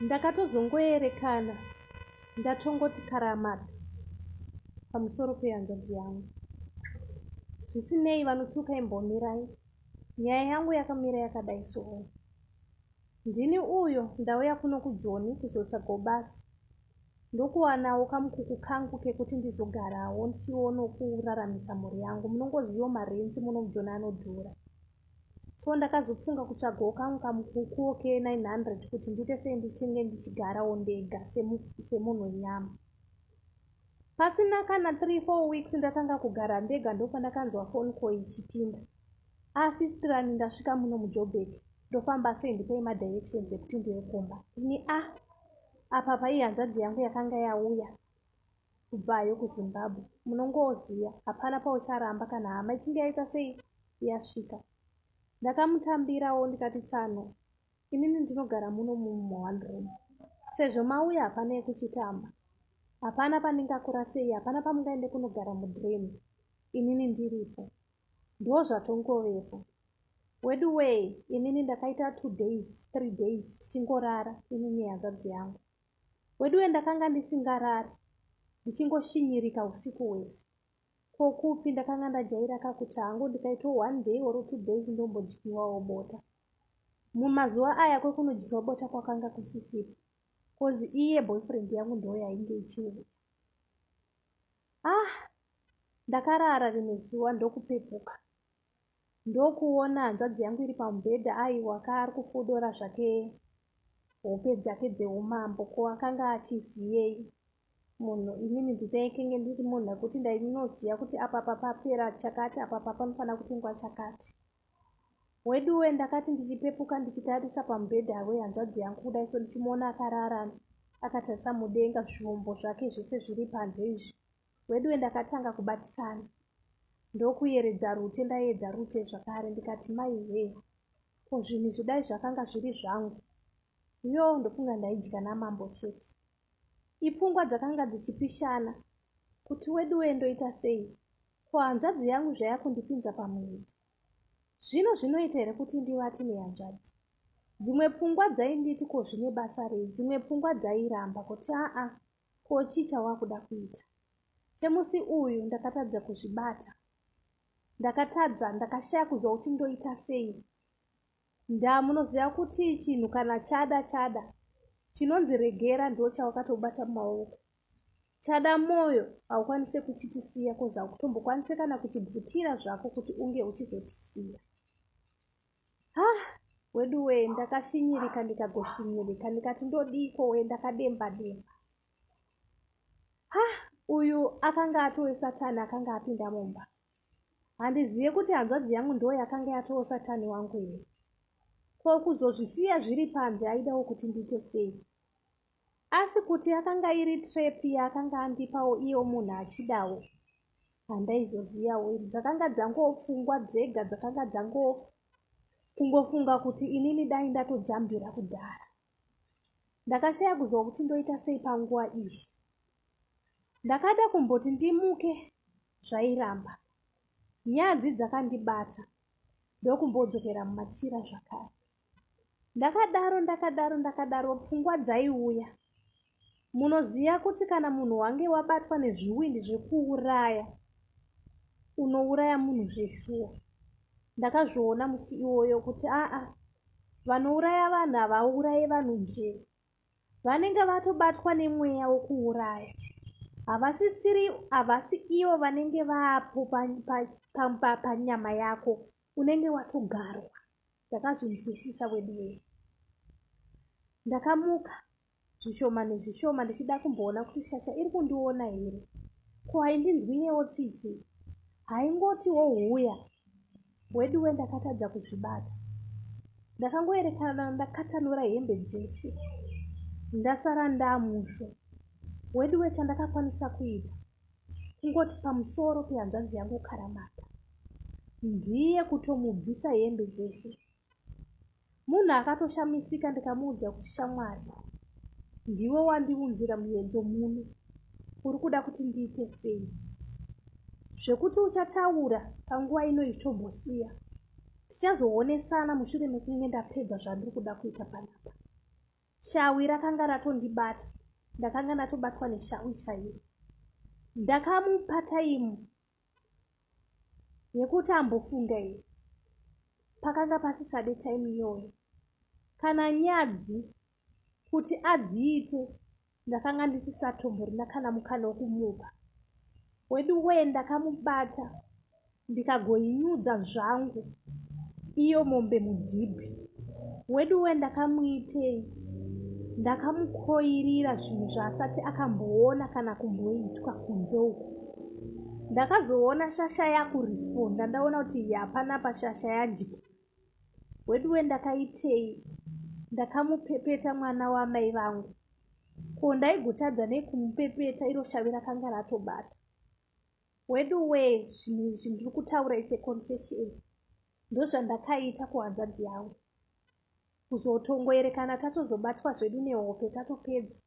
ndakatozongoerekana ndatongoti karamati pamusoro pehanzvadzi yangu zvisinei vanotuka imbomirai nyaya yangu yakamira yakadai soo ndini uyo ndauya kuno kujoni kuzotsvagawo basa ndokuwanawo kamukuku kangu kekuti ndizogarawo ndichiono kuraramisa mhuri yangu munongozivo marenzi muno mujoni anodhura so ndakazofunga kutsvagawo kamwe kamukukuwo ke900 kuti ndiite sei ndichinge ndichigarawo ndega semunhu wenyama pasina kana 34 weeks ndatanga kugara ndega ndopandakanzwa foni ko ichipinda asi ah, strani ndasvika muno mujobek ndofamba sei ndipei madirections ekuti ndiwe kumba ini a ah, apa paihanzvadzi yangu yakanga yauya kubvayo kuzimbabwe munongoziya hapana paucharamba kana hama ichinge yaita sei yasvika ndakamutambirawo ndikati tsano inini ndinogara muno mumwe one room sezvo mauya hapana yekuchitamba hapana pandingakurasei hapana pamungaende kunogara mudream inini ndiripo ndo zvatongovepo wedu wee inini ndakaita two days three days tichingorara inini hanzvadzi yangu weduwe ndakanga ndisingarari ndichingoshinyirika usiku hwese ko kupi ndakanga ndajaira kakuti hangu ndikaitwa one day or two days ndombodyiwawo bota mumazuva aya kwekunodyiwa bota kwakanga kusisipo bcause iye boyfriend yangu ndoo yainge ichiuya ah ndakarara rimwe zuva ndokupepuka ndokuona hanzvadzi yangu iri pamubhedha aiwa ka ari kufodora zvake hope dzake dzeumambo ko akanga achiziyei munhu inini nditaikenge ndiri munhu akuti ndainoziva kuti apa papapera chakati apa papanofanira kutengwa chakati weduwe ndakati ndichipepuka ndichitarisa pamubhedha wehanzvadzi yangu kudai so ndichimuona akarara akatarisa mudenga zvombo zvake zvese zviri panze izvi weduwe ndakatanga kubatikana ndokuyeredza rute ndaiedza rute zvakare ndikati mai hwee ko zvinhu zvidai zvakanga zviri zvangu yo ndofunga ndaidya namambo chete ipfungwa dzakanga dzichipishana kuti weduwe ndoita sei ko hanzvadzi yangu zvaya kundipinza pamuwidzi zvino zvinoita here kuti ndivati nehanzvadzi dzimwe pfungwa dzainditi ko zvine basa rei dzimwe pfungwa dzairamba kuti aa ko chii chawakuda kuita chemusi uyu ndakatadza kuzvibata ndakatadza ndakashaya kuziva kuti ndoita sei ndaa munoziva kuti chinhu kana chada chada chinonzi regera ndo chawakatobata mumaoko chada mwoyo haukwanise kuchitisiya kozi hakutombokwanise kana kuchibvutira zvako kuti unge uchizotisiya ah wedu wee ndakashinyirika ndikagoshinyirika ndikati ndodiiko wee ndakademba demba ah uyu akanga atowe satani akanga apinda mumba handizive kuti hanzvadzi yangu ndo yakanga yatowo satani wangu here ko kuzozvisiya zviri panze aidawo kuti ndiite sei asi kuti yakanga iri trap yaakanga andipawo iyo munhu achidawo handaizoziyawo ini dzakanga dzangopfungwa dzega dzakanga dzango kungofunga kuti inini dai ndatojambira kudhara ndakashaya kuziva kuti ndoita sei panguva iyi ndakada kumboti ndimuke zvairamba nyadzi dzakandibata ndokumbodzokera mumachira zvakare ndakadaro ndakadaro ndakadaro pfungwa dzaiuya munoziva kuti kana munhu wange wabatwa nezviwindi zvekuuraya unouraya munhu zveshuwa ndakazviona musi iwoyo kuti aa vanouraya vanhu havauraye vanhu njee vanenge vatobatwa nemweya wekuuraya havasisiri havasi ivo vanenge vaapo panyama yako unenge watogarwa ndakazvinzwisisa weduwee ndakamuka zvishoma nezvishoma ndichida kumboona kuti shasha iri kundiona here ko haindinzwirewo tsitsi haingoti wohuya weduwe ndakatadza kuzvibata ndakangoerekana ndakatanura hembe dzese ndasara ndamusvo weduwe chandakakwanisa kuita kungoti pamusoro pehanzvanzi yangu ukaramata ndiye kutomubvisa hembe dzese munhu akatoshamisika ndikamuudza kuti shamwari ndiwe wandiunzira muyedzo muno uri kuda kuti ndiite sei zvekuti uchataura panguva ino ichitombosiya tichazoonesana mushure mekunge ndapedza zvandiri kuda kuita panapa shawi rakanga ratondibata ndakanga ndatobatwa neshawi chairo ndakamupa taimu yekuti ambofunga here pakanga pasisade taimu iyoyo kana nyadzi kuti adziite ndakanga ndisisatomborina kana mukana wokumupa wedu wee ndakamubata ndikagoinyudza zvangu iyo mombe mudhibhi weduwe ndakamuitei ndakamukoirira zvinhu zvaasati akamboona kana kumboitwa kunze uku ndakazoona shasha yakuresponda ndaona kuti hapana pashasha yajiki weduwe ndakaitei ndakamupepeta mwana wamai vangu ko ndaigotadza nei kumupepeta iro shavi rakanga ratobata weduwee zvinhu izvi ndiri kutaura its a confession ndozvandakaita kuhanzvadzi yangu kuzotongoerekana tatozobatwa zvedu nehope tatopedza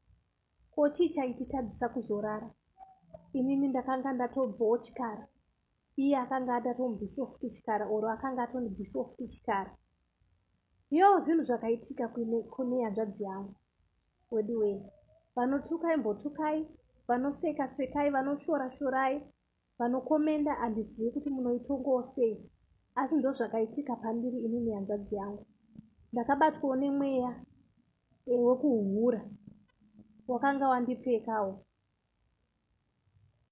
ko chii chaititadzisa kuzorara inini ndakanga ndatobvawo chikara iye akanga adatomubvisiwo futi chikara oro akanga atonibvisiwo futi chikara yoo zvinhu zvakaitika kune hanzvadzi yangu weduwee vanotukai mbotukai vanoseka sekai vanoshora shorai vanokomenda handizivi kuti munoitongowo sei asi ndozvakaitika pandiri ini nehanzvadzi yangu ndakabatwawo nemweya wekuhura wakanga wandipfekawo